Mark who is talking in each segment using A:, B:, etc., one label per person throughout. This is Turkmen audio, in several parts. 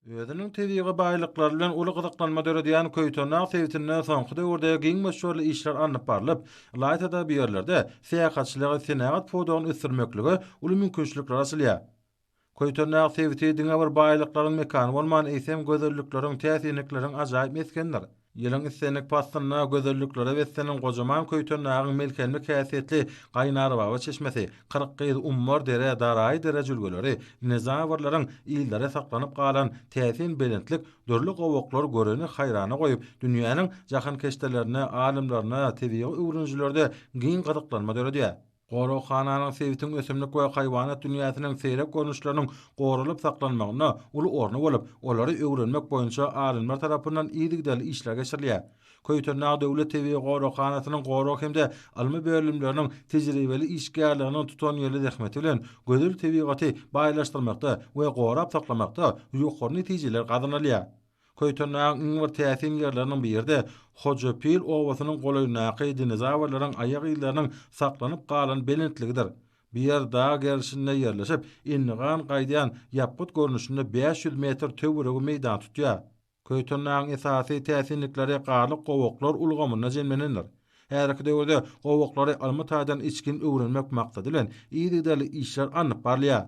A: Özüniň tebigy baýlyklary bilen uly gyzyklanma döredýän Köýtendag sebitinde soňky döwürde giň möçberli işler alnyp barlyp, ylaýta-da bu ýerlerde syýahatçylygy, senagat pudagyny ösdürmeklige uly mümkinçilikler açylýar. Köýtendag sebiti diňe bir baýlyklaryň mekany bolman, eýsem, gözellikleriň, täsinlikleriň ajaýyp meskenidir. Ýylyň islendik paslynda gözelliklere beslenen gojaman Köýtendagyň melhemlik häsiýetli Gaýnarbaba çeşmesi, Kyrkgyz, Ummar dere, Daraýy dere jülgeleri, dinozawrlaryň yzlary saklanyp galan täsin belentlik dürli gowaklar göreni haýrana goýup, dünýäniň jahankeşdelerinde, alymlarynda, tebigy öwrenijilerde giň gyzyklanma döredýär. Goraghananyň sebitiň ösümlik we haýwanat dünýäsiniň seýrek görnüşleriniň goralyp saklanmagynda uly orny bolup, olary öwrenmek boýunça alymlar tarapyndan yzygiderli işler geçirilýär. Köýtendag döwlet tebigy goraghanasynyň gorag hem-de ylmy bölümleriniň tejribeli işgärleriniň tutanýerli zähmeti bilen gözel tebigaty baýlaşdyrmakda we gorap saklamakda ýokary netijeler gazanylýar. Köýtendagyň iň bir täsin ýerleriniň biri-de Hojapil obasynyň golaýyndaky dinozawrlaryň aýak yzlarynyň saklanyp galan belentligidir. Bu ýer dag gerşinde ýerleşip, endigan gaýdýan ýapgyt görnüşinde bäş ýüz metr töweregi meýdan tutýar. Köýtendagyň esasy täsinlikleri garly gowaklar ulgamynda jemlenendir. Häzirki döwürde gowaklary ylmy taýdan içgin öwrenmek maksady bilen yzygiderli işler alnyp barylýar.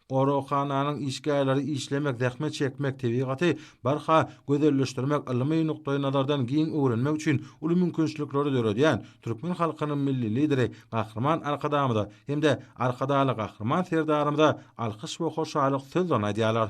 A: Goraghananyň işgärleri işlemek, zähmet çekmek, tebigaty barha gözelleşdirmek, ylmy nukdaýnazardan giň öwrenmek üçin uly mümkinçilikleri döredýän türkmen halkynyň Milli Lideri Gahryman Arkadagymyza hem-de Arkadagly Gahryman Serdarymyza alkyş we hoşallyk sözlerini aýdýarlar.